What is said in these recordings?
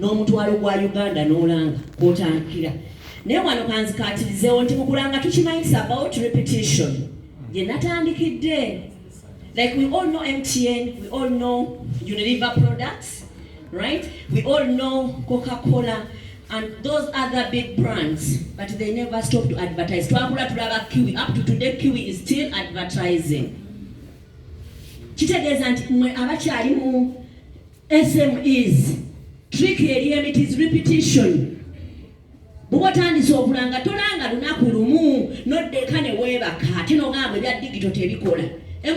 n'omutwalo gwa uganda n'olanga kwotandikira naye wano kanzikatirizeewo nti mukulanga tukimanyisa about repetition gye natandikidde like we all know mtn we all know unilever products right we all know coca cola and those other big brands but they never stop to advertise twakula tulaba kiwi up to today kiwi is still advertising kitegeeza nti mwe abakyalimu SMEs trick eri emit is repetition bwoba otandise okulanga tolanga lunaku lumu noddeka ne weebaka ate nogamba ebya digito tebikola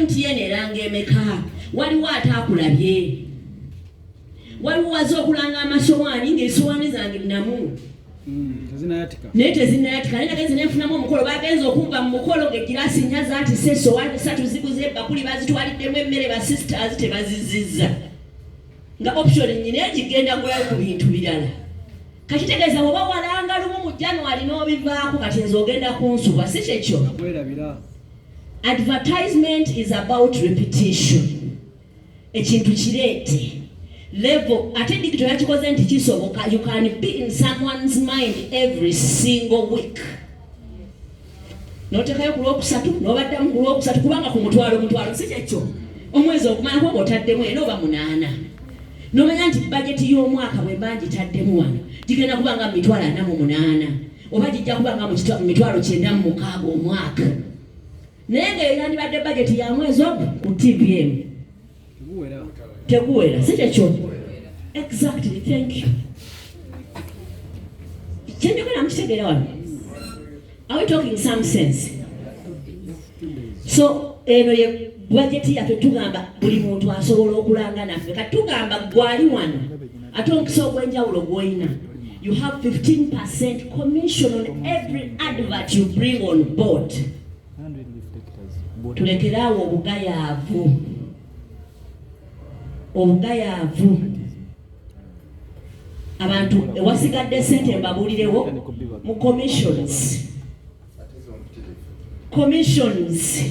mtn eranga emeka waliwo ate akulabye waliwo waza okulanga amasowaani ng'esowaani zange namu naye tezinayatika naye nagenze nenfunamu omukolo bagenze okumba mu mukolo ngegiraasi nya zatise sowani satu ziguze ebakuli bazitwaliddemu emmere ba sisters tebazizizza nga option nyina egigenda gulayo ku bintu birala kakitegeeza oba walanga lumu mu january n'obivaako kati nze ogenda kunsuba si kyekyo advertisement is about repetition ekintu kireete level ate digito yakikoze nti kisoboka you can be in someone's mind every single week notekayo ku lwokusatu nobaddamu ku lwokusatu kubanga ku mutwalo omutwalo si kyekyo omwezi okumala kuba otaddemu era oba munaana nomanya nti bajeti y'omwaka bwe mba ngitaddemu wano gigenda kuba nga mumitwalo ana mu munaana oba gijja kuba nga mumitwalo kyenda mu mukaaga omwaka naye nga eyandibadde bajeti ya mwezi ogu ku tpm teguwera si kyekyo exactly thank you kyenjogera mukitegeera wano are we talking some sense so eno ye bajeti yaffe tugamba buli muntu asobola okulanga naffe kati tugamba gwali wano ate omukisa ogw'enjawulo gwolina you have 15 percent commission on every advert you bring on board tulekere awo obugayaavu obugayaavu abantu ewasigadde sente mbabuulirewo mu commissions commissions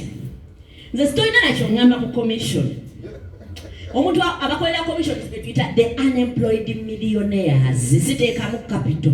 nze sitolina nakyo ngamba ku commission omuntu abakolera commissions betuyita the unemployed millionaires ziteekamu capital